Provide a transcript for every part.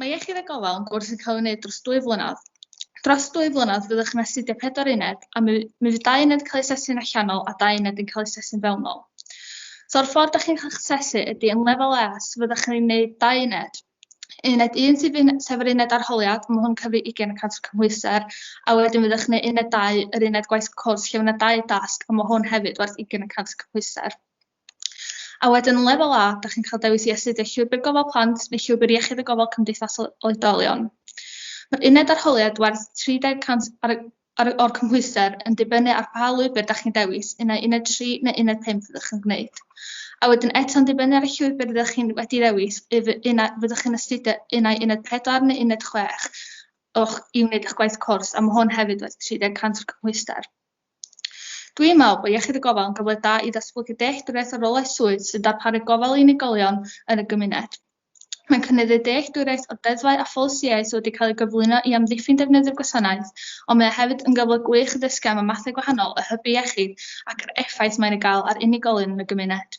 Mae iechyd a gofal yn gwrs yn cael ei wneud dros dwy flynedd. Dros dwy flynedd fyddwch yn astudio pedwar uned a mi, mi fydd dau uned cael ei sesu'n allanol a dau uned yn cael ei sesu'n fewnol. So'r ffordd da chi'n cael eich sesu ydy yn lefel E, so fyddwch yn ei wneud dau uned. Uned 1 sydd yn, sef yr uned arholiad, mae hwn cyfri 20% o cymhwysau, a wedyn fyddwch yn uned 2, yr uned gwaith cwrs, lle mae dau dasg, a mae hwn hefyd werth 20% o cymhwysau. A wedyn yn lefel A, da chi'n cael dewis i astudio llwybr gofal plant neu llwybr iechyd y gofal cymdeithasol oedolion. Mae'r uned arholiad werth 30% ar y Ar o'r cymhwyster, yn dibynnu ar pa lwybr da chi'n dewis, uned uned 3 neu uned 5 fyddwch chi'n gwneud. A wedyn eto'n dibynnu ar y llwybr rydych chi'n wedi ddewis, yf uned fyddwch chi'n astudio uned uned 4 neu uned 6 o'ch, i wneud eich gwaith cwrs, a mae hwn hefyd werth 30 cant o'r cymhwyster. Dwi'n meddwl bod Iechyd y Gofal yn gyfle da i ddatblygu dealltwriaeth o rolau swydd sy'n darparu gofal i unigolion yn y gymuned. Mae'n cynnydd y dealltwriaeth o'r deddfau a pholisïau sydd wedi cael eu cyflwyno i amddiffyn defnyddio'r gwasanaeth, ond mae o hefyd yn gyfle gwych i ddysgu am y mathau gwahanol o hybu iechyd ac yr effaith mae'n ei gael ar unigolion yn y gymuned.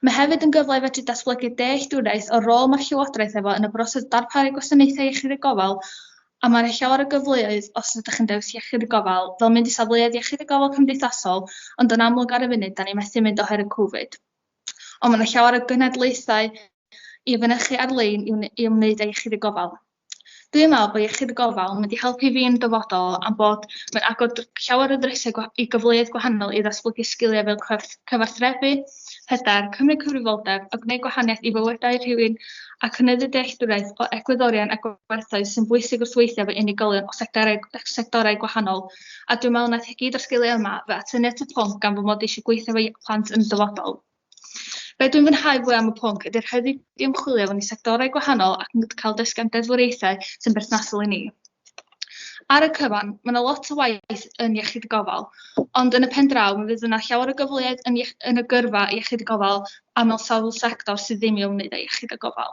Mae hefyd yn gyfle i fedru datblygu dealltwriaeth o'r rôl mae'r Llywodraeth efo yn y broses darparu gwasanaethau iechyd a gofal a mae 'na llawer o gyfleoedd os ydych chi'n dewis iechyd a gofal fel mynd i safleoedd iechyd a gofal cymdeithasol ond yn amlwg ar y funud 'da ni methu mynd oherwydd covid. Ond mae yna llawer o gynadlaethau i fynychu ar-lein i ymwneud â iechyd y gofal. Dwi'n meddwl bod iechyd y gofal yn mynd i helpu fi yn dyfodol am bod mae'n agor llawer o ddrysau i gyfleoedd gwahanol i ddatblygu sgiliau fel cyfarthrebu, hyder, cymryd cyfrifoldeb a gwneud gwahaniaeth i fywydau rhywun a cynyddu dealltwriaeth o egwyddorion a gwerthoedd sy'n bwysig wrth weithio efo unigolion o sectorau, sectorau gwahanol. a dwi'n meddwl wnaeth e gyd o'r sgiliau yma fy atyniad at y pwnc gan fy mod i eisiau gweithio efo plant yn y dyfodol. Be dwi'n fwynhau fwy am y pwnc ydy'r rhaid i fi ymchwilio mewn i sectorau gwahanol ac yn cael dysgu am deddfwriaethau sy'n berthnasol i ni. Ar y cyfan, mae yna lot o waith yn iechyd y gofal, ond yn y pen draw, mi fydd yna llawer o gyfleoedd yn, yn y gyrfa iechyd y gofal a mewn sawl sector sydd ddim i'w wneud â iechyd y gofal.